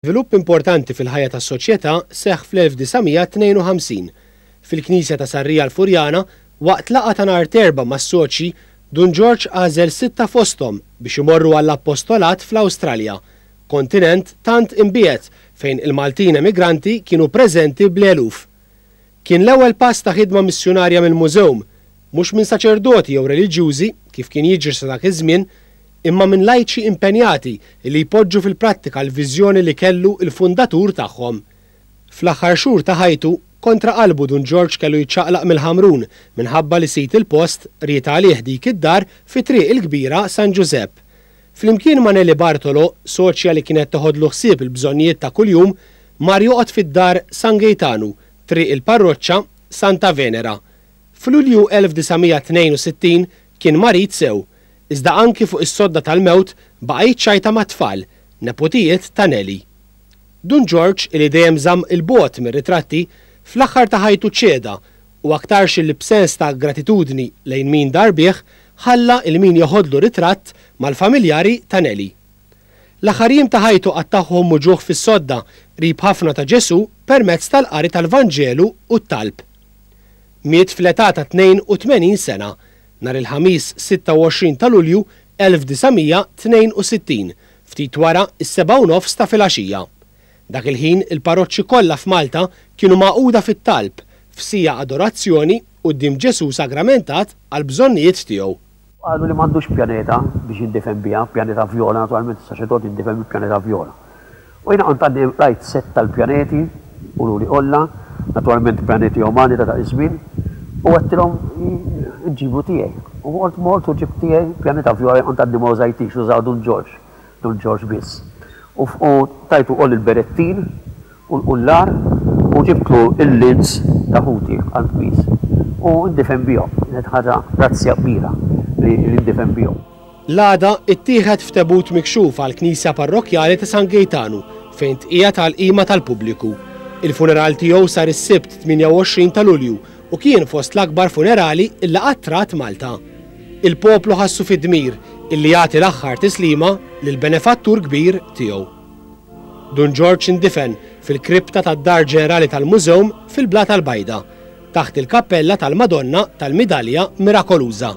Żvilupp importanti fil-ħajja tas-soċjetà seħħ fl-1952, fil-knisja ta' Sarria l-Furjana, waqt laqgħa ta' nhar t'Erbgħa mas-soċji, Dun Ġorġ għażel sitta fosthom biex imorru għall-appostolat fl-Awstralja, kontinent tant imbiegħed fejn il-Maltin emigranti kienu preżenti bl-eluf. Kien l-ewwel pass ta' ħidma missjunarja mill-mużewm, mhux minn saċerdoti jew reliġjużi, kif kien jiġri sa dak iż-żmien, imma minn lajċi impenjati li jpoġġu fil-prattika l-viżjoni li kellu l-fundatur tagħhom. Fl-aħħar xhur ta' ħajtu, kontra qalbu Dun Ġorġ kellu jiċċaqlaq mill-Ħamrun minħabba li sid il-post ried għalih dik id-dar fi Triq il-Kbira San Ġużepp. Flimkien ma' Nelly Bartolo, soċja li kienet teħodlu ħsieb il-bżonnijiet ta' kuljum, mar joqgħod fid-dar San Gejtanu, Triq il-Parroċċa, Santa Venera. F'Lulju 1962 kien marid sew, iżda anki fuq is-sodda tal-mewt baqa' jiċċajta mat-tfal, neputijiet ta' Nelly. Dun Ġorġ, li dejjem żamm 'il bogħod mir-ritratti, fl-aħħar ta' ħajtu ċeda u aktarx illi b'sens ta' gratitudni lejn min dar bih, ħalla il min jeħodlu ritratt mal-familjari ta' Nellie. L-aħħar jiem ta' ħajtu qattagħhom muġugħ fis-sodda qrib ħafna ta' Ġesù permezz tal-qari tal-Vanġelu u t-talb. Miet fl-età ta' 82 sena, nhar il-Ħamis 26 ta' Lulju 1962, ftit wara s-sebgħa u nofs ta' filgħaxija. Dak il-ħin il-parroċċi kollha f'Malta kienu magħquda fit-talb, f'siegħa adorazzjoni quddiem Ġesù sagramentat għall-bżonnijiet tiegħu. Qalu li m'għandux pjaneta biex jindefen biha, pjaneta vjola, naturalment is-saċerdot jindefen bi pjaneta vjola. U jiena kont għaddi rajt sett tal-pjaneti, ululi Olla, naturalment pjaneti umani ta' dak iż-żmien, u għedtilhom inġiblu tiegħi. U mort mort u ġibt tiegħi pjaneta vjola li kont għaddi ma użajtix, użaha Dun Ġorġ. Dun Ġorġ biss. U tajtu wkoll il-berettin u l-qullar u ġibtlu l-lins ta' ħuti għall-qmiż. U ndifen bihom. Kienet ħaġa razzja kbira li ndifen bihom. L-għada ttieħed f'tebut mikxuf għall-Knisja Parrokkjali ta' San Gejtanu fejn tqiegħed għall-qima tal-pubbliku. Il-funeral tiegħu sar is-Sibt 28 ta' Lulju u kien fost l-akbar funerali li qatt rat Malta. Il-poplu ħassu fid-dmir illi jagħti l-aħħar tislima lill-benefattur kbir tiegħu. Dun Ġorġ indifen fil-kripta tad-Dar Ġenerali tal-Mużewm fil-Blata l-Bajda, taħt il-kappella tal-Madonna tal-Midalja Mirakoluża.